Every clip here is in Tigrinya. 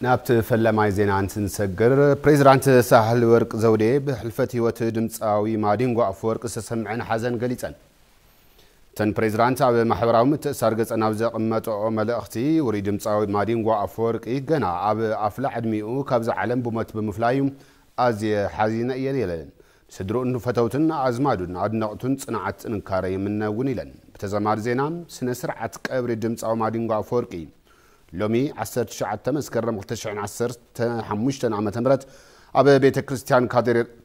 ናብቲ ፈለማይ ዜና እንትንሰግር፣ ፕሬዚዳንት ሳህለወርቅ ዘውዴ ብሕልፈት ህይወት ድምፃዊ ማዲንጎ ኣፈወርቅ ዝተሰምዐን ሓዘን ገሊፀን። እተን ፕሬዚዳንት ኣብ ማሕበራዊ ምትእስሳር ገፀን ኣብ ዘቐመጠኦ መልእኽቲ፣ ውሩይ ድምፃዊ ማዲንጎ ኣፈወርቂ ገና ኣብ ኣፍላ ዕድሚኡ ካብዛ ዓለም ብሞት ብምፍላዩ ኣዝየ ሓዚነ እየ ኢለን። ንስድርኡን ፈተውቱን ኣዝማዱን ኣድነቕቱን ፅንዓት ጥንካረ ይምነ እውን ኢለን። ብተዛማዲ ዜና፣ ስነ ስርዓት ቀብሪ ድምፃዊ ማዲንጎ ኣፈወርቂ፣ ሎሚ ዓሰርተ ትሽዓተ መስከረም ክልተ ሽሕን ዓሰርተ ሓሙሽተን ዓመተ ምህረት ኣብ ቤተ ክርስቲያን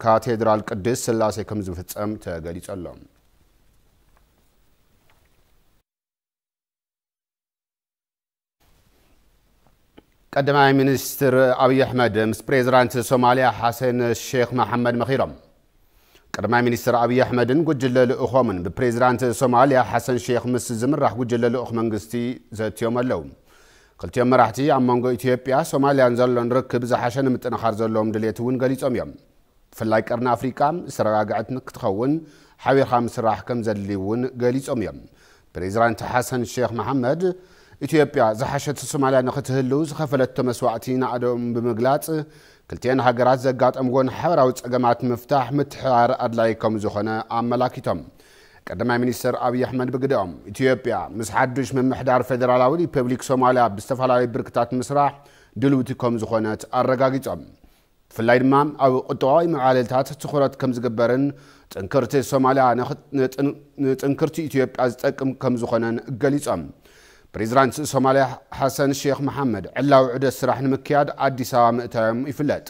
ካቴድራል ቅድስት ስላሴ ከም ዝፍጸም ተገሊጹ ኣሎ። ቀዳማይ ሚኒስትር ኣብዪ ኣሕመድ ምስ ፕሬዚዳንት ሶማሊያ ሓሰን ሼክ መሓመድ መኺሮም። ቀዳማይ ሚኒስትር ኣብዪ ኣሕመድን ጉጅለ ልኡኾምን ብፕሬዚዳንት ሶማሊያ ሓሰን ሼኽ ምስ ዝምራሕ ጉጅለ ልኡኽ መንግስቲ ዘትዮም ኣለው። ክልቲኦም መራሕቲ ኣብ መንጎ ኢትዮጵያ ሶማሊያን ዘሎን ርክብ ዝሓሸ ንምጥንኻር ዘለዎም ድሌት እውን ገሊፆም እዮም። ብፍላይ ቀርኒ ኣፍሪቃ ዝተረጋግዐት ንክትኸውን ሓቢርካ ምስራሕ ከምዘድሊ እውን ገሊፆም እዮም። ፕሬዚዳንት ሓሰን ሼኽ መሓመድ፣ ኢትዮጵያ ዝሓሸት ሶማሊያ ንኽትህልው ዝኸፈለቶ መስዋእቲ ናእደኦም ብምግላፅ፣ ክልቲኤን ሃገራት ዘጋጠምዎን ሓበራዊ ፀገማት ንምፍታሕ ምትሕብባር ኣድላዪ ከምዝኾነ ኣመላኪቶም። ቀዳማይ ሚኒስትር ኣብዪ ኣሕመድ ብግደኦም፣ ኢትዮጵያ ምስ ሓዱሽ ምምሕዳር ፌዴራላዊ ሪፐብሊክ ሶማሊያ ብዝተፈላለዩ ብርክታት ምስራሕ ድልውቲ ከምዝኾነት ኣረጋጊፆም። ብፍላይ ድማ ኣብ ቁጠባዊ መዕለልታት ትኹረት ከምዝግበርን ጥንክርቲ ሶማልያ ንጥንክርቲ ኢትዮጵያ ዝጠቅም ከምዝኾነን ገሊፆም። ፕሬዚዳንት ሶማልያ ሓሰን ሼኽ መሓመድ ዕላዊ ዑደት ስራሕ ንምክያድ ኣዲስ ኣበባ ምእታዮም ይፍለጥ።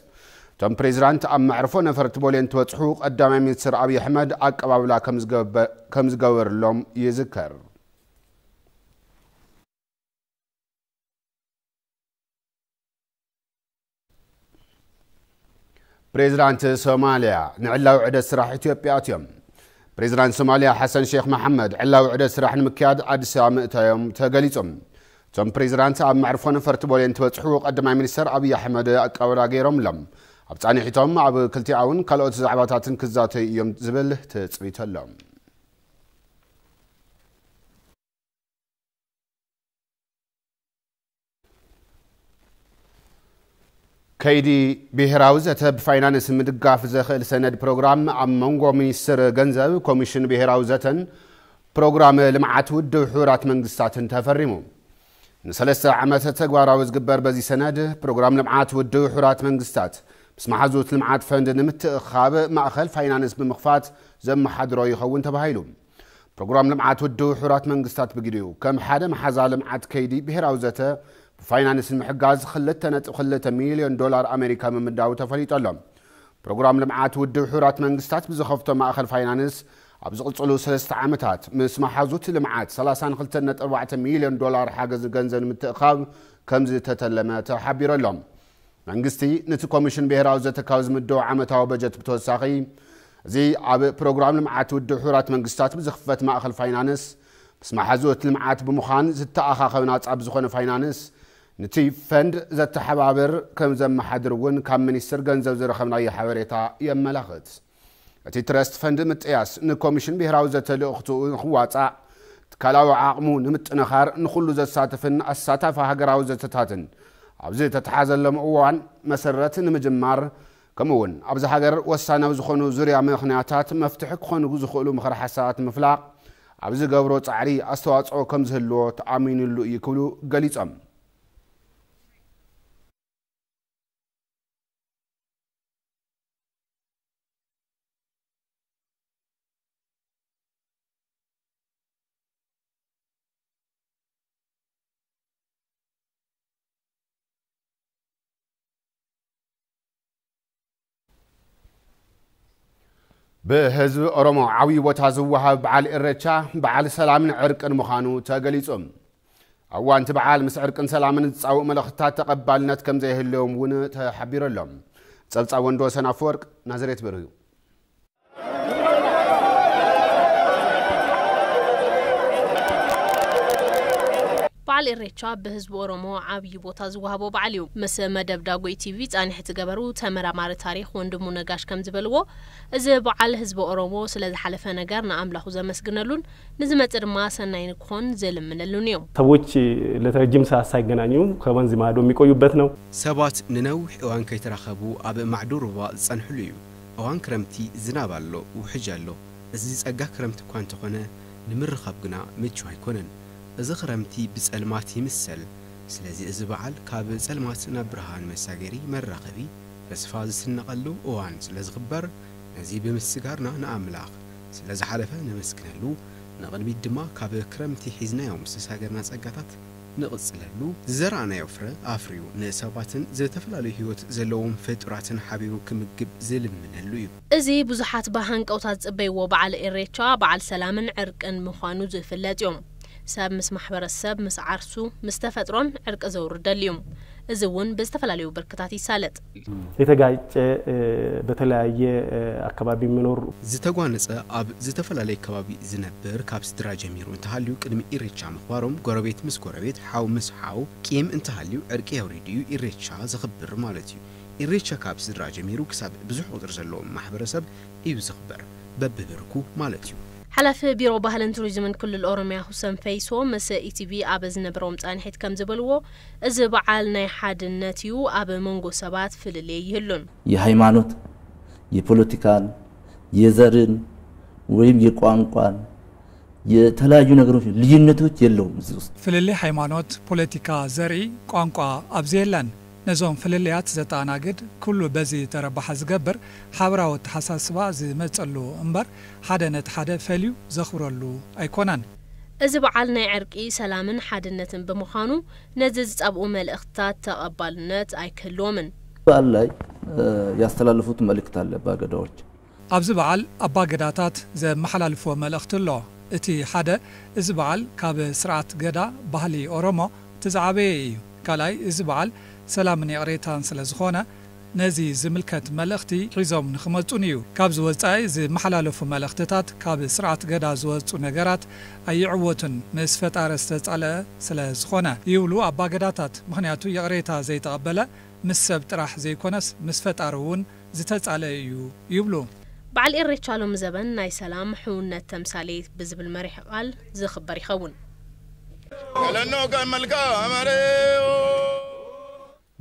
እቶም ፕሬዚዳንት ኣብ መዕርፎ ነፈርቲ ቦሌ እንትበፅሑ ቀዳማይ ሚኒስትር ኣብይ ኣሕመድ ኣቀባብላ ከምዝገበርሎም ይዝከር። ፕሬዚዳንት ሶማሊያ ንዕላዊ ዕደት ስራሕ ኢትዮጵያ ኣትዮም። ፕሬዚዳንት ሶማሊያ ሓሰን ሼክ መሓመድ ዕላዊ ዕደት ስራሕ ንምክያድ ኣዲስ ኣበባ ምእታዮም ተገሊጹ። እቶም ፕሬዚዳንት ኣብ መዕርፎ ነፈርቲ ቦሌ እንትበጽሑ ቀዳማይ ሚኒስተር ኣብይ ኣሕመድ ኣቀባብላ ገይሮምሎም። ኣብ ጻኒሒቶም ኣብ ክልቲኣውን ካልኦት ዛዕባታትን ክዛተዩ እዮም ዝብል ትጽቢት ኣሎ። ከይዲ ብሄራዊ ዘተ ብፋይናንስ ምድጋፍ ዘኽእል ሰነድ ፕሮግራም ኣብ መንጎ ሚኒስትር ገንዘብ፣ ኮሚሽን ብሄራዊ ዘተን ፕሮግራም ልምዓት ውድብ ሕቡራት መንግስታትን ተፈሪሙ። ንሰለስተ ዓመት ተግባራዊ ዝግበር በዚ ሰነድ ፕሮግራም ልምዓት ውድብ ሕቡራት መንግስታት ምስ መሓዙት ልምዓት ፈንድ ንምትእኽኻብ ማእኸል ፋይናንስ ብምኽፋት ዘመሓድሮ ይኸውን ተባሂሉ። ፕሮግራም ልምዓት ውድብ ሕቡራት መንግስታት ብግዲኡ፣ ከም ሓደ መሓዛ ልምዓት ከይዲ ብሄራዊ ዘተ ብፋይናንስ ንምሕጋዝ ክልተ ነጥቢ ክልተ ሚሊዮን ዶላር ኣሜሪካ ምምዳቡ ተፈሊጡ ኣሎ። ፕሮግራም ልምዓት ውድብ ሕቡራት መንግስታት ብዝኸፍቶ ማእኸል ፋይናንስ ኣብ ዝቕፅሉ ሰለስተ ዓመታት ምስ መሓዙት ልምዓት ሰላሳን ክልተን ነጥቢ ኣርባዕተ ሚሊዮን ዶላር ሓገዝ ገንዘብ ንምትእኽኻብ ከምዝተተለመ ተሓቢሩ ኣሎ። መንግስቲ ንቲ ኮሚሽን ብሄራዊ ዘተ ካብ ዝምድቦ ዓመታዊ በጀት ብተወሳኺ እዚ ኣብ ፕሮግራም ልምዓት ውድብ ሕቡራት መንግስታት ብዝኽፈት ማእኸል ፋይናንስ ምስ መሓዙት ልምዓት ብምዃን ዝተኣኻኸብ ናፃ ብዝኾነ ፋይናንስ ንቲ ፈንድ ዘተሓባብር ከምዘመሓድር እውን ካብ ሚኒስትር ገንዘብ ዝረኸብናዮ ሓበሬታ የመላኽት። እቲ ትረስት ፈንድ ምጥያስ ንኮሚሽን ብሄራዊ ዘተ ልእኽትኡ ንክዋፃእ፣ ትካላዊ ዓቕሙ ንምጥንኻር ንኹሉ ዘሳትፍን ኣሳታፊ ሃገራዊ ዘተታትን ኣብ ዝተትሓዘሎም እዋን መሰረት ንምጅማር ከምኡ እውን ኣብዚ ሃገር ወሳናዊ ዝኾኑ ዙርያ ምኽንያታት መፍትሒ ክኾኑ ዝኽእሉ ምኽረ ሓሳባት ንምፍላቕ ኣብ ዝገብሮ ፃዕሪ ኣስተዋፅኦ ከምዝህልዎ ተኣሚንሉ እዩ ክብሉ ገሊፆም። ብህዝቢ ኦሮሞ ዓብዪ ቦታ ዝወሃብ በዓል ኢሬቻ በዓል ሰላምን ዕርቅን ምዃኑ ተገሊፁ። ኣብ እዋን እቲ በዓል ምስ ዕርቅን ሰላምን ዝፃወኡ መልእኽትታት ተቐባልነት ከምዘይህልዎም እውን ተሓቢሩ ኣሎ። ፀብፃብ ወንድወሰን ኣፈወርቅ፣ ናዝሬት ብር እዩ። በዓል ኢሬቻ ብህዝቢ ኦሮሞ ዓብዪ ቦታ ዝወሃቦ በዓል እዩ። ምስ መደብ ዳጉኢ ቲቪ ፃኒሕት ዝገበሩ ተመራማሪ ታሪኽ ወንድሙ ነጋሽ ከምዝበልዎ እዚ በዓል ህዝቢ ኦሮሞ ስለዝሓለፈ ነገር ንኣምላኹ ዘመስግነሉን ንዝመጽእ ድማ ሰናይ ንክኾን ዝልምነሉን እዩ። ሰዎች ለረጅም ሰዓት ሳይገናኙ ከወንዝ ማዶ የሚቆዩበት ነው። ሰባት ንነዊሕ እዋን ከይተራኸቡ ኣብ ማዕዶ ሩባ ዝጸንሕሉ እዩ። እዋን ክረምቲ ዝናብ ኣሎ፣ ውሕጅ ኣሎ። እዚ ጸጋ ክረምቲ እኳ እንተኾነ ንምርኻብ ግና ምቹው ኣይኮነን። እዚ ክረምቲ ብጸልማት ይምሰል። ስለዚ እዚ በዓል ካብ ጸልማት ናብ ብርሃን መሳገሪ፣ መራኸቢ፣ ተስፋ ዝስነቐሉ እዋን ስለዝኽበር ነዚ ብምስጋርና ንኣምላኽ ስለ ዝሓለፈ ነመስግነሉ፣ ንቕድሚት ድማ ካብ ክረምቲ ሒዝናዮ ምስ ዝሳገርና ጸጋታት ንቕጽለሉ፣ ዝዘራእናዮ ፍረ ኣፍርዩ ንሰባትን ዝተፈላለዩ ህይወት ዘለዎም ፍጡራትን ሓቢሩ ክምግብ ዝልምነሉ እዩ። እዚ ብዙሓት ብሃንቀውታ ዝጽበይዎ በዓል ኢሬቻ፣ በዓል ሰላምን ዕርቅን ምዃኑ ዝፍለጥ እዩ። ሰብ ምስ ማሕበረሰብ፣ ምስ ዓርሱ፣ ምስ ተፈጥሮን ዕርቂ ዘውርደሉ እዩ። እዚ እውን ብዝተፈላለዩ ብርክታት ይሳለጥ። የተጋጨ በተለያየ ኣከባቢ የሚኖር ዝተጓነጸ ኣብ ዝተፈላለየ ከባቢ ዝነብር ካብ ስድራ ጀሚሩ እንተሃልዩ ቅድሚ ኢሬቻ ምኽባሮም ጎረቤት ምስ ጎረቤት ሓው ምስ ሓው ቂም እንተሃልዩ ዕርቂ የውሪድ እዩ ኢሬቻ ዘኽብር ማለት እዩ ኢሬቻ ካብ ስድራ ጀሚሩ ክሳብ ብዙሕ ቁጽሪ ዘለዎም ማሕበረሰብ እዩ ዝኽበር በብብርኩ ማለት እዩ። ሓላፊ ቢሮ ባህልን ቱሪዝምን ክልል ኦሮሚያ ሁሰን ፈይሶ ምስ ኢቲቪ ኣብ ዝነበሮም ፃንሒት ከምዝበልዎ፣ እዚ በዓል ናይ ሓድነት እዩ፣ ኣብ መንጎ ሰባት ፍልልይ ኣይህሉን። የሃይማኖት፣ የፖለቲካን፣ የዘርን ወይም የቋንቋን የተለያዩ ነገሮች ልዩነቶች የለውም እዚህ ውስጥ። ፍልልይ ሃይማኖት፣ ፖለቲካ፣ ዘርኢ፣ ቋንቋ ኣብዚ የለን። ነዞም ፍልልያት ዘተኣናግድ፣ ኩሉ በዚ ተረባሓ ዝገብር ሓበራዊ ኣተሓሳስባ ዝመፀሉ እምበር ሓደ ነቲ ሓደ ፈልዩ ዘኽብረሉ ኣይኮነን። እዚ በዓል ናይ ዕርቂ፣ ሰላምን ሓድነትን ብምዃኑ ነዚ ዝጸብኡ መልእኽትታት ተቐባልነት ኣይክህልዎምን። በዓል ላይ ያስተላለፉት መልእክት ኣለ ኣባ ገዳዎች። ኣብዚ በዓል ኣባ ገዳታት ዘመሓላልፍዎ መልእኽቲ ኣሎ። እቲ ሓደ እዚ በዓል ካብ ስርዓት ገዳ፣ ባህሊ ኦሮሞ፣ እቲ ዝዓበየ ኢዩ። ካልኣይ እዚ በዓል ሰላምን ይቕሬታን ስለዝኾነ ነዚ ዝምልከት መልእኽቲ ሒዞም ንኽመጹን እዩ። ካብዚ ወጻኢ ዝመሓላለፉ መልእኽትታት ካብ ስርዓት ገዳ ዝወጹ ነገራት ኣይዕወቱን፣ ምስ ፈጣሪ ዝተጻልኣ ስለ ዝኾነ ይብሉ ኣባ ገዳታት። ምኽንያቱ ይቕሬታ ዘይተቐበለ ምስ ሰብ ጥራሕ ዘይኮነስ ምስ ፈጣሪ እውን ዝተጻልኣ እዩ ይብሉ። በዓል ኢሬቻ ሎሚ ዘበን ናይ ሰላም፣ ሕውነት ተምሳሌት ብዝብል መሪሕ ቃል ዝኽበር ይኸውን።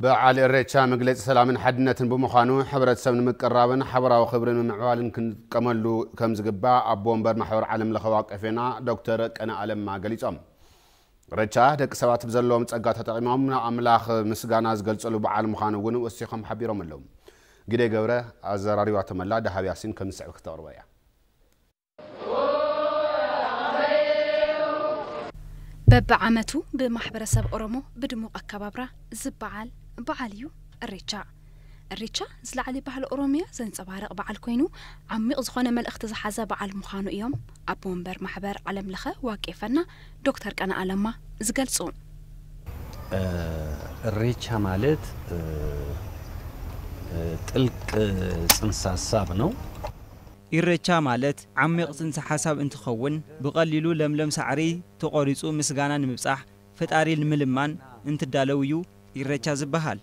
በዓል ኢሬቻ መግለፂ ሰላምን ሓድነትን ብምዃኑ ሕብረተሰብ ንምቅርራብን ሓበራዊ ክብሪ ንምምዕባልን ክንጥቀመሉ ከምዝግባእ ኣቦ ወንበር ማሕበር ዓለም ለኸ ዋቄፌና ዶክተር ቀነኣ ለማ ገሊፆም። ኢሬቻ ደቂ ሰባት ብዘለዎም ፀጋ ተጠቒሞም ንኣምላኽ ምስጋና ዝገልፀሉ በዓል ምዃኑ እውን ወሲኾም ሓቢሮም ኣለው። ግደይ ገብረ ኣዘራሪባቶም ኣላ፣ ደሃብ ያሲን ከምዝስዕብ ክተቕርቦ እያ። በቢዓመቱ ብማሕበረሰብ ኦሮሞ ብድሙቕ ኣከባብራ ዝበዓል በዓል እዩ እሬቻ። እሬቻ ዝላዓሊ ባህሊ ኦሮሚያ ዘንፀባርቕ በዓል ኮይኑ ዓሚቕ ዝኾነ መልእኽቲ ዝሓዘ በዓል ምዃኑ እዮም ኣቦ ወንበር ማሕበር ዓለም ለኸ ዋቄፈና ዶክተር ቀነኣ ለማ ዝገልፁ። እሬቻ ማለት ጥልቅ ፅንሰ ሀሳብ ነው። ኢሬቻ ማለት ዓሚቕ ፅንሰ ሓሳብ እንትኸውን ብቐሊሉ ለምለም ሳዕሪ ተቖሪፁ ምስጋና ንምብፃሕ፣ ፈጣሪ ንምልማን፣ እንትዳለው ዩ ኢሬቻ ዝብሃል።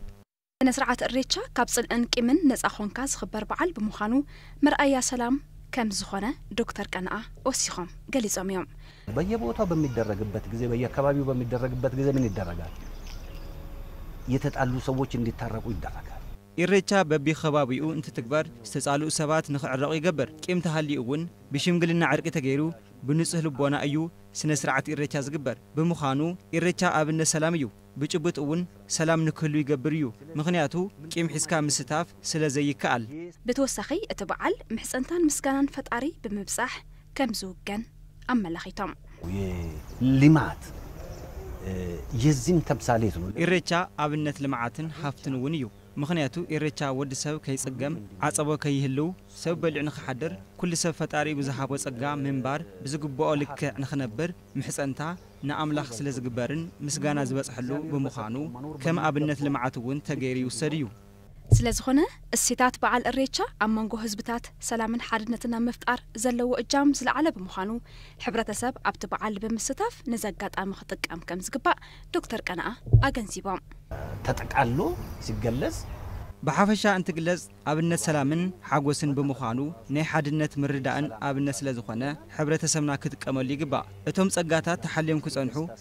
ስነ ስርዓት እሬቻ ካብ ፅልእን ቂምን ነፃ ኾንካ ዝኽበር በዓል ብምዃኑ መርኣያ ሰላም ከም ዝኾነ ዶክተር ቀነኣ ወሲኾም ገሊፆም ዮም። በየቦታው በሚደረግበት ጊዜ በየአካባቢው በሚደረግበት ጊዜ ምን ይደረጋል? የተጣሉ ሰዎች እንዲታረቁ ይደረጋል። ኢሬቻ በቢከባቢኡ እንትትግበር ዝተፃልኡ ሰባት ንክዕረቑ ይገብር። ቂም ተሃልዩ እውን ብሽምግልና ዕርቂ ተገይሩ ብንፁህ ልቦና እዩ ስነ ስርዓት ኢሬቻ ዝግበር። ብምዃኑ ኢሬቻ ኣብነት ሰላም እዩ። ብጭቡጥ እውን ሰላም ንክህሉ ይገብር እዩ። ምኽንያቱ ቂም ሒዝካ ምስታፍ ስለዘይከኣል። ብተወሳኺ እቲ በዓል ምሕፀንታን ምስጋናን ፈጣሪ ብምብፃሕ ከም ዝውገን ኣመላኺቶም። የልማት የዚም ተምሳሌት ነው። ኢሬቻ ኣብነት ልምዓትን ሃፍትን እውን እዩ። ምኽንያቱ ኢሬቻ ወዲ ሰብ ከይፅገም፣ ዓፀቦ ከይህልው፣ ሰብ በሊዑ ንኽሓድር፣ ኩሉ ሰብ ፈጣሪኡ ብዝሃቦ ፀጋ ምንባር ብዝግበኦ ልክዕ ንኽነብር ምሕፀንታ ንኣምላኽ ስለዝግበርን ምስጋና ዝበፅሐሉ ብምዃኑ ከም ኣብነት ልምዓት እውን ተገይሩ ይውሰድ እዩ። ስለዝኾነ እሴታት በዓል እሬቻ ኣብ መንጎ ህዝብታት ሰላምን ሓድነትን ኣብ ምፍጣር ዘለዎ እጃም ዝለዓለ ብምዃኑ ሕብረተሰብ ኣብቲ በዓል ብምስታፍ ነዚ ኣጋጣሚ ክጥቀም ከምዝግባእ ዶክተር ቀነኣ ኣገንዚቦም። ተጠቃሎ ሲገለጽ። ብሓፈሻ እንትግለጽ ኣብነት ሰላምን ሓጎስን ብምዃኑ ናይ ሓድነት ምርድዳእን ኣብነት ስለዝኾነ ሕብረተሰብና ክጥቀመሉ ይግባእ። እቶም ጸጋታት ተሓልዮም ክጸንሑ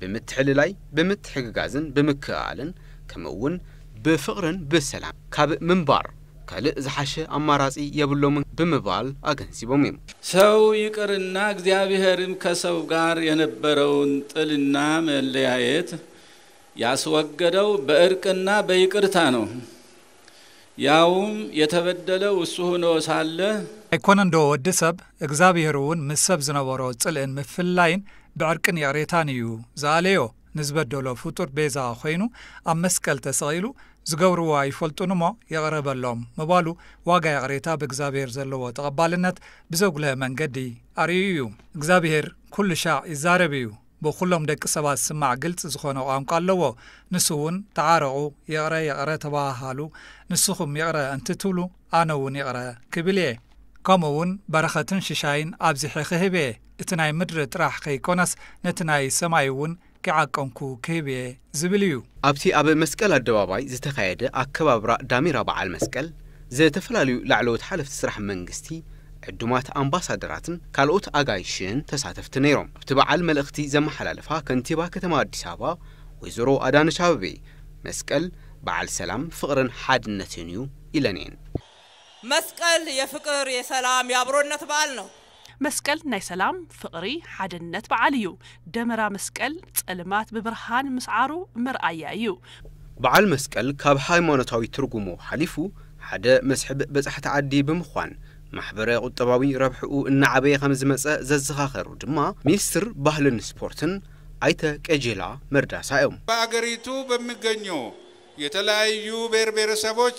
ብምትሕልላይ፣ ብምትሕግጋዝን ብምክእኣልን ከምኡ እውን ብፍቕርን ብሰላም ካብ ምንባር ካልእ ዝሓሸ ኣማራፂ የብሎምን ብምባል ኣገንዚቦም እዮም። ሰው ይቅርና እግዚኣብሔርም ከሰው ጋር የነበረውን ጥልና መለያየት ያስወገደው በእርቅና በይቅርታ ነው። ያውም የተበደለ እሱ ሁኖ ሳለ። ኣይኮነንዶ ወዲ ሰብ እግዛብሄርውን ምስ ሰብ ዝነበሮ ጽልእን ምፍልላይን ብዕርቅን ይቕሬታን ኢዩ ዝኣለዮ ንዝበደሎ ፍጡር ቤዛ ኮይኑ ኣብ መስቀል ተሰቒሉ ዝገብርዎ ኣይፈልጡንሞ ይቕረ በሎም ምባሉ ዋጋ ይቕሬታ ብእግዛብሄር ዘለዎ ተቐባልነት ብዘጉልሀ መንገዲ ኣርእዩ ኢዩ እግዛብሄር ኩሉሻዕ ይዛረብ ኢዩ ብኹሎም ደቂ ሰባት ዝስማዕ ግልፂ ዝኾነ ቋንቋ ኣለዎ። ንሱ እውን ተዓረቑ፣ ይቕረ ይቕረ ተበሃሃሉ፣ ንስኹም ይቕረ እንትትብሉ ኣነ እውን ይቕረ ክብል እየ። ከምኡ እውን በረኸትን ሽሻይን ኣብዚሐ ክህብ እየ፣ እቲ ናይ ምድሪ ጥራሕ ከይኮነስ ነቲ ናይ ሰማይ እውን ከይዓቀንኩ ክህብ እየ። ዝብል እዩ። ኣብቲ ኣብ መስቀል ኣደባባይ ዝተኻየደ ኣከባብራ ዳሜራ በዓል መስቀል፣ ዝተፈላለዩ ላዕለዎት ሓለፍቲ ስራሕ መንግስቲ፣ ዕዱማት ኣምባሳደራትን ካልኦት ኣጋይሽን ተሳተፍቲ ነይሮም። ኣብቲ በዓል መልእኽቲ ዘመሓላለፋ ከንቲባ ከተማ ኣዲስ ኣበባ ወይዘሮ ኣዳነች ኣበቤ፣ መስቀል በዓል ሰላም፣ ፍቕርን ሓድነትን እዩ ኢለን እየን። መስቀል የፍቅር የሰላም የኣብሮነት በዓል ነው። መስቀል ናይ ሰላም፣ ፍቕሪ፣ ሓድነት በዓል እዩ። ደመራ መስቀል ጸልማት ብብርሃን ምስዓሩ መርኣያ እዩ። በዓል መስቀል ካብ ሃይማኖታዊ ትርጉሙ ሓሊፉ ሓደ መስሕብ በጻሕቲ ዓዲ ብምዃን ማሕበረ ቁጠባዊ ረብሕኡ እናዓበየ ከምዝመጸ ዘዘኻኸሩ ድማ ሚኒስትር ባህልን ስፖርትን ኣይተ ቀጀላ መርዳሳ እዮም። በኣገሪቱ በሚገኞ የተለያዩ ብሔር ብሔረሰቦች።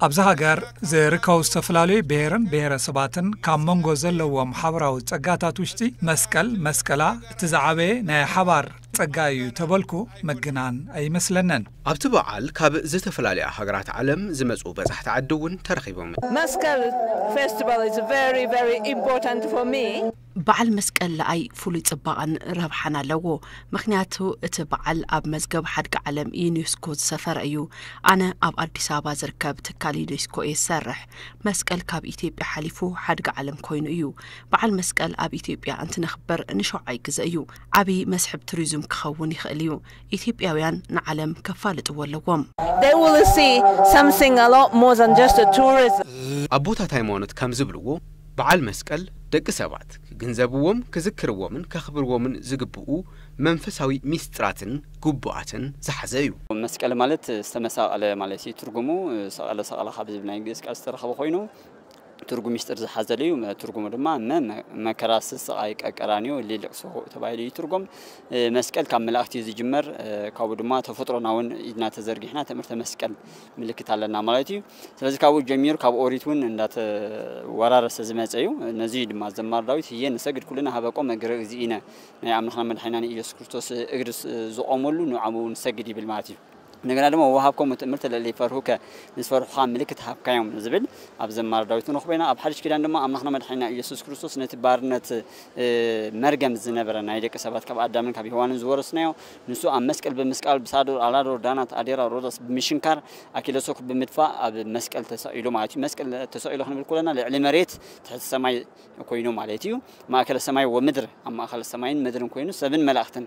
ኣብዚ ሃገር ዝርከቡ ዝተፈላለዩ ብሔርን ብሔረሰባትን ካብ መንጎ ዘለዎም ሓበራዊ ፀጋታት ውሽጢ መስቀል፣ መስቀላ፣ እቲ ዝዓበየ ናይ ሓባር ፀጋ እዩ ተበልኩ ምግናን ኣይመስለንን። ኣብቲ በዓል ካብ ዝተፈላለያ ሃገራት ዓለም ዝመፁ በፃሕቲ ዓዲ እውን ተረኺቦም። መስቀል ፌስቲቫል ኢዝ ቨሪ ቨሪ ኢምፖርታንት ፎር ሚ። በዓል መስቀል ለኣይ ፍሉይ ጽባቐን ረብሓን ኣለዎ፣ ምኽንያቱ እቲ በዓል ኣብ መዝገብ ሓድጊ ዓለም ዩኔስኮ ዝሰፈረ እዩ። ኣነ ኣብ ኣዲስ ኣበባ ዝርከብ ትካል ዩኔስኮ እየ ዝሰርሕ። መስቀል ካብ ኢትዮጵያ ሓሊፉ ሓድጊ ዓለም ኮይኑ እዩ። በዓል መስቀል ኣብ ኢትዮጵያ እንትነኽብር ንሸውዓይ ግዘ እዩ። ዓብዪ መስሕብ ቱሪዝም ክኸውን ይኽእል እዩ። ኢትዮጵያውያን ንዓለም ከፋልጥዎ ኣለዎም። They will see something a lot more than just a tourism. ኣቦታት ሃይማኖት ከም ዝብልዎ በዓል መስቀል ደቂ ሰባት ክግንዘብዎም፣ ክዝክርዎምን ከኽብርዎምን ዝግብኡ መንፈሳዊ ሚስጥራትን ግቡኣትን ዝሓዘ እዩ። መስቀል ማለት ዝተመሳቐለ ማለት እዩ ትርጉሙ። ሰቐለ ሰቐለ ካብ ዝብል ናይ ግእዝ ቃል ዝተረኸበ ኮይኑ ትርጉም ሚስጢር ዝሓዘለ እዩ። ትርጉሙ ድማ መ መከራስ ስቃይ ቀቀራንዮ ሊልቅሶ ተባሂሉ ይትርጎም። መስቀል ካብ መላእክት እዩ ዝጅመር። ካብኡ ድማ ተፈጥሮና እውን ኢድና ተዘርጊሕና ትእምርተ መስቀል ምልክት ኣለና ማለት እዩ። ስለዚ ካብኡ ጀሚሩ ካብ ኦሪት እውን እንዳተወራረሰ ዝመፀ እዩ። ነዚ ድማ ዘማር ዳዊት ህየ ንሰግድ ኩልና ሃበቆ መግረ እግዚእነ ናይ ኣምላኽና መድሓኒናን ኢየሱስ ክርስቶስ እግሪ ዝቆመሉ ንዓኡ ንሰግድ ይብል ማለት እዩ። እንደገና ድማ ወወሃብኮሙ ትእምርተ ለእለ ይፈርሁከ፣ ንዝፈርሑኻ ምልክት ሃብካዮም ዝብል ኣብ ዝማረ ዳዊት ንረኽቦ ኢና። ኣብ ሓድሽ ኪዳን ድማ ኣምላኽና መድሓኒና ኢየሱስ ክርስቶስ ነቲ ባርነት መርገም ዝነበረ ናይ ደቂ ሰባት ካብ ኣዳምን ካብ ሄዋንን ዝወረስናዮ ንሱ ኣብ መስቀል ብምስቃል ብሳዶር፣ ኣላዶር፣ ዳናት፣ ኣዴራ፣ ሮዳስ ብምሽንካር ኣኪለሶክ ብምድፋእ ኣብ መስቀል ተሰቂሉ ማለት እዩ። መስቀል ተሰቂሉ ክንብል ኮለና ልዕሊ መሬት ትሕቲ ሰማይ ኮይኑ ማለት እዩ። ማእከለ ሰማይ ወምድር ኣብ ማእከል ሰማይን ምድርን ኮይኑ ሰብን መላእክትን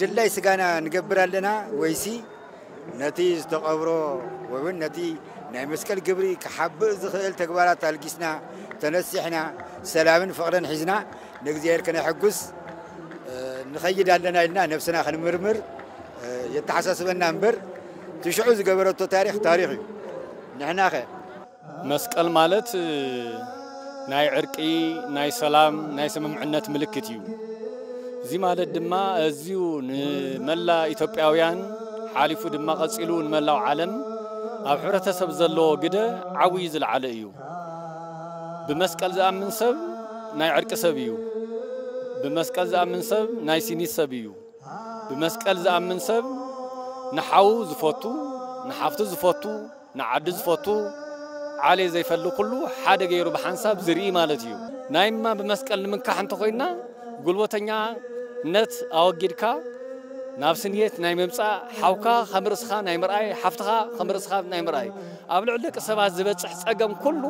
ድላይ ስጋና ንገብር ኣለና ወይሲ ነቲ ዝተቐብሮ ወይ እውን ነቲ ናይ መስቀል ግብሪ ክሓብእ ዝኽእል ተግባራት ኣልጊስና ተነሲሕና ሰላምን ፍቕርን ሒዝና ንእግዚኣብሔር ክነሐጉስ ንኸይድ ኣለና ኢልና ነብስና ክንምርምር የተሓሳስበና እምበር ትሽዑ ዝገበረቶ ታሪክ ታሪክ እዩ ንሕናኸ መስቀል ማለት ናይ ዕርቂ፣ ናይ ሰላም፣ ናይ ስምምዕነት ምልክት እዩ። እዚ ማለት ድማ እዝዩ ንመላ ኢትዮጵያውያን ሓሊፉ ድማ ቀጺሉ ንመላው ዓለም ኣብ ሕብረተሰብ ዘለዎ ግደ ዓብዩ ዝለዓለ እዩ። ብመስቀል ዝኣምን ሰብ ናይ ዕርቂ ሰብ እዩ። ብመስቀል ዝኣምን ሰብ ናይ ሲኒት ሰብ እዩ። ብመስቀል ዝኣምን ሰብ ንሓዉ ዝፈቱ፣ ንሓፍቱ ዝፈቱ፣ ንዓዱ ዝፈቱ ዓሌት ዘይፈሊ ኩሉ ሓደ ገይሩ ብሓንሳብ ዝርኢ ማለት እዩ። ናይማ ብመስቀል ንምንካሕ እንተኾይንና ጉልበተኛነት ኣወጊድካ ናብ ስንየት ናይ ምምጻእ፣ ሓውካ ከም ርእስኻ ናይ ምርኣይ፣ ሓፍትኻ ከም ርእስኻ ናይ ምርኣይ፣ ኣብ ልዕሊ ደቂ ሰባት ዝበጽሕ ጸገም ኩሉ፣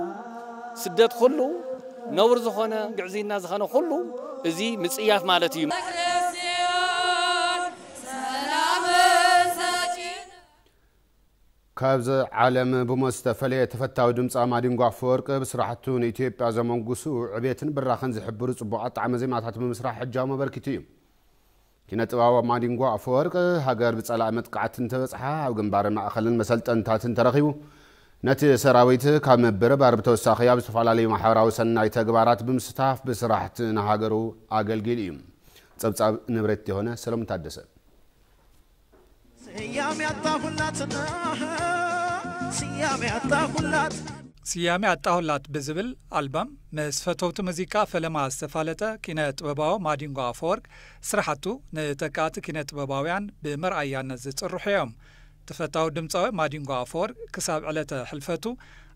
ስደት ኩሉ፣ ነውሪ ዝኾነ ግዕዝይና ዝኸነ ኩሉ እዚ ምጽያፍ ማለት እዩ። ካብዚ ዓለም ብሞት ዝተፈለየ ተፈታዊ ድምጻዊ ማዲንጎ ኣፈወርቂ ብስራሕቱ ንኢትዮጵያ ዘመንጉሱ ዕቤትን ብራኸን ዝሕብሩ ጽቡቓት ጣዕመ ዜማታት ብምስራሕ ሕጃሙ ኣበርኪቱ እዩ። ኪነ-ጥበባዊ ማዲንጎ ኣፈወርቂ ሃገር ብጸላኢ መጥቃዕቲ እንተበጽሓ ኣብ ግንባርን ማእከልን መሰልጠንታትን ተረኺቡ ነቲ ሰራዊት ካብ ምብርባር ብተወሳኺ ኣብ ዝተፈላለዩ ማሕበራዊ ሰናይ ተግባራት ብምስታፍ ብስራሕቲ ንሃገሩ ኣገልጊሉ እዩ። ጸብጻብ ንብሬት ዮሃነ ሰለሙን ታደሰ። ስያሜ ኣጣሁላት ብዝብል ኣልበም ምስ ፈተውቲ ሙዚቃ ፈለማ ዝተፋለጠ ኪነ ጥበባዊ ማዲንጎ ኣፈወርቅ ስራሕቱ ንተካእቲ ኪነ ጥበባውያን ብመርኣያነት ዝፅርሑ እዮም። ተፈታዊ ድምፃዊ ማዲንጎ ኣፈወርቅ ክሳብ ዕለተ ሕልፈቱ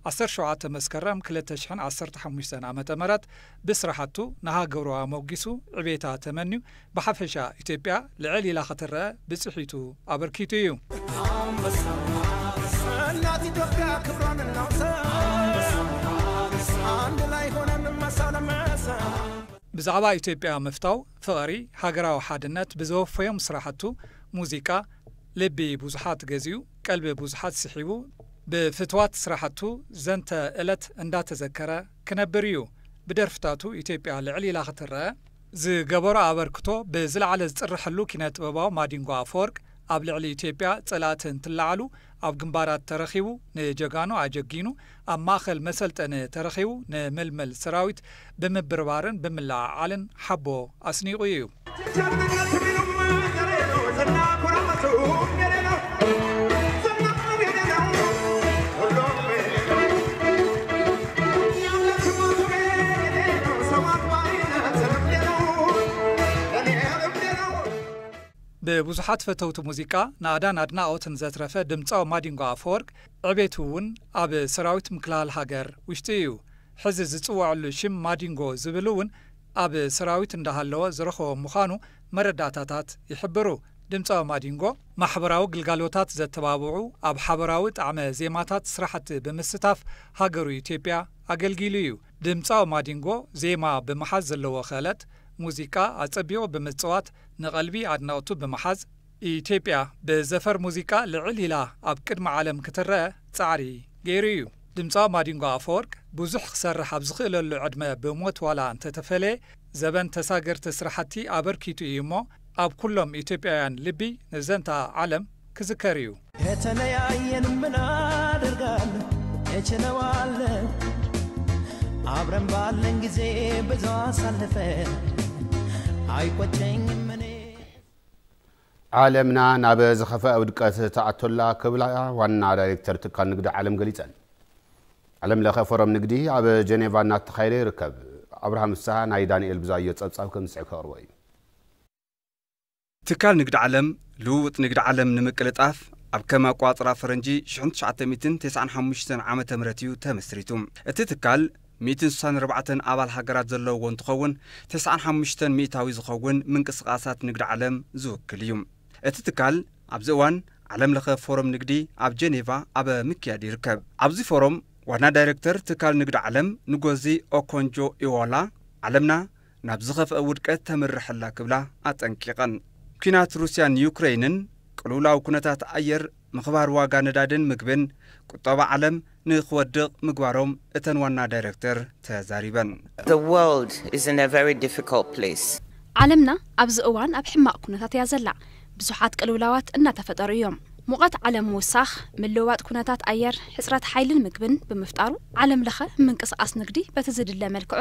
ዓሰርተ ሸውዓተ መስከረም ክልተ ሽሕን ዓሰርተ ሓሙሽተን ዓመተ ምህረት ብስራሕቱ ንሃገሩ ኣሞጊሱ ዕቤታ ተመንዩ ብሓፈሻ ኢትዮጵያ ልዕል ኢላ ክትረኣ ብፅሒቱ ኣበርኪቱ እዩ። እናት ኢትዮጵያ ክብሯን እናውሰ ኣንድ ላይ ሆነን መሳ ለመሳ ብዛዕባ ኢትዮጵያ ምፍታው ፍቕሪ ሃገራዊ ሓድነት ብዘወፈዮም ስራሕቱ ሙዚቃ ልቢ ብዙሓት ገዚኡ ቀልቢ ብዙሓት ስሒቡ ብፍትዋት ስራሕቱ ዘንተ እለት እንዳተዘከረ ክነብር እዩ ብደርፍታቱ ኢትዮጵያ ልዕል ኢላ ክትረኣ ዝገበሮ ኣበርክቶ ብዝለዓለ ዝፅረሐሉ ኪነ-ጥበባዊ ማዲንጎ ኣፈወርቅ ኣብ ልዕሊ ኢትዮጵያ ፀላእቲ እንትለዓሉ ኣብ ግንባራት ተረኺቡ ንጀጋኑ ኣጀጊኑ ኣብ ማእኸል መሰልጠኒ ተረኺቡ ንምልምል ሰራዊት ብምብርባርን ብምልዕዓልን ሓቦ ኣስኒቑ እዩ። ብብዙሓት ፈተውቲ ሙዚቃ ናእዳን ኣድናቖትን ዘትረፈ ድምጻዊ ማዲንጎ ኣፈወርቅ ዕቤቱ እውን ኣብ ሰራዊት ምክልሃል ሃገር ውሽጢ እዩ። ሕዚ ዝጽወዐሉ ሽም ማዲንጎ ዝብል እውን ኣብ ሰራዊት እንዳሃለወ ዝረኸቦ ምዃኑ መረዳእታታት ይሕብሩ። ድምጻዊ ማዲንጎ ማሕበራዊ ግልጋሎታት ዘተባብዑ ኣብ ሓበራዊ ጣዕመ ዜማታት ስራሕቲ ብምስታፍ ሃገሩ ኢትዮጵያ ኣገልጊሉ እዩ። ድምጻዊ ማዲንጎ ዜማ ብምሓዝ ዘለዎ ክእለት፣ ሙዚቃ ኣጸቢቑ ብምጽዋት ንቐልቢ ኣድነቕቱ ብምሓዝ፣ ኢትዮጵያ ብዘፈር ሙዚቃ ልዕል ኢላ ኣብ ቅድሚ ዓለም ክትረኣ ጻዕሪ ገይሩ እዩ። ድምጻዊ ማዲንጎ ኣፈወርቅ ብዙሕ ክሰርሕ ኣብ ዝኽእለሉ ዕድመ ብሞት ዋላ እንተተፈለየ፣ ዘበን ተሳገርቲ ስራሕቲ ኣበርኪቱ እዩ እሞ፣ ኣብ ኩሎም ኢትዮጵያውያን ልቢ ንዘንትኣ ዓለም ክዝከር እዩ። ከተለያየን ምን ኣደርጋለሁ እችለዋለሁ ኣብረን ባለን ጊዜ ብዙ ኣሳልፈን ኣይቆጨኝም እኔ። ዓለምና ናብ ዝኸፍኣ ውድቀት ትኣቱ'ላ ክብላ ዋና ዳይሬክተር ትካል ንግዲ ዓለም ገሊፀን። ዓለም ለኸ ፎረም ንግዲ ኣብ ጀኔቫ እናተኻየደ ይርከብ። ኣብርሃም ፍስሃ ናይ ዳኒኤል ብዙኣየሁ ፀብፃብ ከምዝስዕብ ከቕርቦ እዩ። ትካል ንግዲ ዓለም፣ ልውውጥ ንግዲ ዓለም ንምቅልጣፍ ኣብ ከም ኣቆፃፅራ ፈረንጂ ሽሕን ትሽዓተ ሚእትን ተስዓን ሓሙሽተን ዓመተ ምህረት እዩ ተመስሪቱ። እቲ ትካል ሚእትን ስሳን ኣርባዕተን ኣባል ሃገራት ዘለውዎ እንትኸውን ተስዓን ሓሙሽተን ሚእታዊ ዝኸውን ምንቅስቓሳት ንግዲ ዓለም ዝውክል እዩ። እቲ ትካል ኣብዚ እዋን ዓለም ለኸ ፎረም ንግዲ ኣብ ጀኔቫ ኣብ ምክያድ ይርከብ። ኣብዚ ፎረም ዋና ዳይሬክተር ትካል ንግዲ ዓለም ንጎዚ ኦኮንጆ-ኢዎላ ዓለምና ናብ ዝኸፍአ ውድቀት ተምርሕ ኣላ ክብላ ኣጠንቂቐን። ኲናት ሩስያን ዩክረይንን፣ ቅልውላው ኩነታት ኣየር፣ ምኽባር ዋጋ ነዳድን ምግብን፣ ቁጠባ ዓለም ንክወድቕ ምግባሮም እተን ዋና ዳይረክተር ተዛሪበን። The world is in a very difficult place. ዓለምና ኣብዚ እዋን ኣብ ሕማቕ ኩነታት እያ ዘላ። ብዙሓት ቅልውላዋት እናተፈጠሩ እዮም። ሙቐት ዓለም ምውሳኽ፣ ምልውዋጥ ኩነታት ኣየር፣ ሕጽረት ሓይልን ምግብን ብምፍጣሩ ዓለምለኸ ምንቅስቓስ ንግዲ በቲ ዝድለ መልክዑ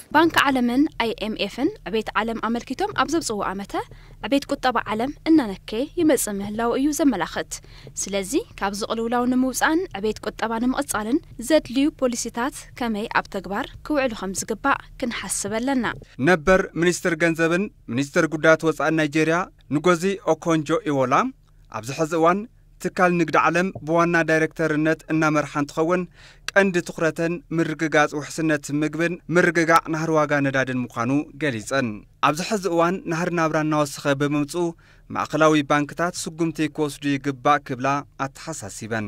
ባንክ ዓለምን ኣይኤምኤፍን ዕቤት ዓለም ኣመልኪቶም ኣብ ዘውፅእዎ ኣመተ ዕቤት ቁጠባ ዓለም እናነከየ ይመፅእ ምህላዉ እዩ ዘመላኽት። ስለዚ ካብዚ ቅልውላው ንምውፃእን ዕቤት ቁጠባ ንምቕፃልን ዘድልዩ ፖሊሲታት ከመይ ኣብ ተግባር ክውዕሉ ከምዝግባእ ክንሓስብ ኣለና። ነበር ሚኒስትር ገንዘብን ሚኒስትር ጉዳያት ወፃእን ናይጀሪያ ንጎዚ ኦኮንጆ-ኢዎላ፣ ኣብዚ ሕዚ እዋን ትካል ንግዲ ዓለም ብዋና ዳይሬክተርነት እናመርሓ እንትኸውን ቀንዲ ትኹረተን ምርግጋፅ ውሕስነት ምግብን ምርግጋዕ ናህሪ ዋጋ ነዳድን ምዃኑ ገሊፀን። ኣብዚ ሕዚ እዋን ናህሪ ናብራ እናወሰኸ ብምምፅኡ ማእኸላዊ ባንክታት ስጉምቲ ክወስዱ ይግባእ ክብላ ኣተሓሳሲበን።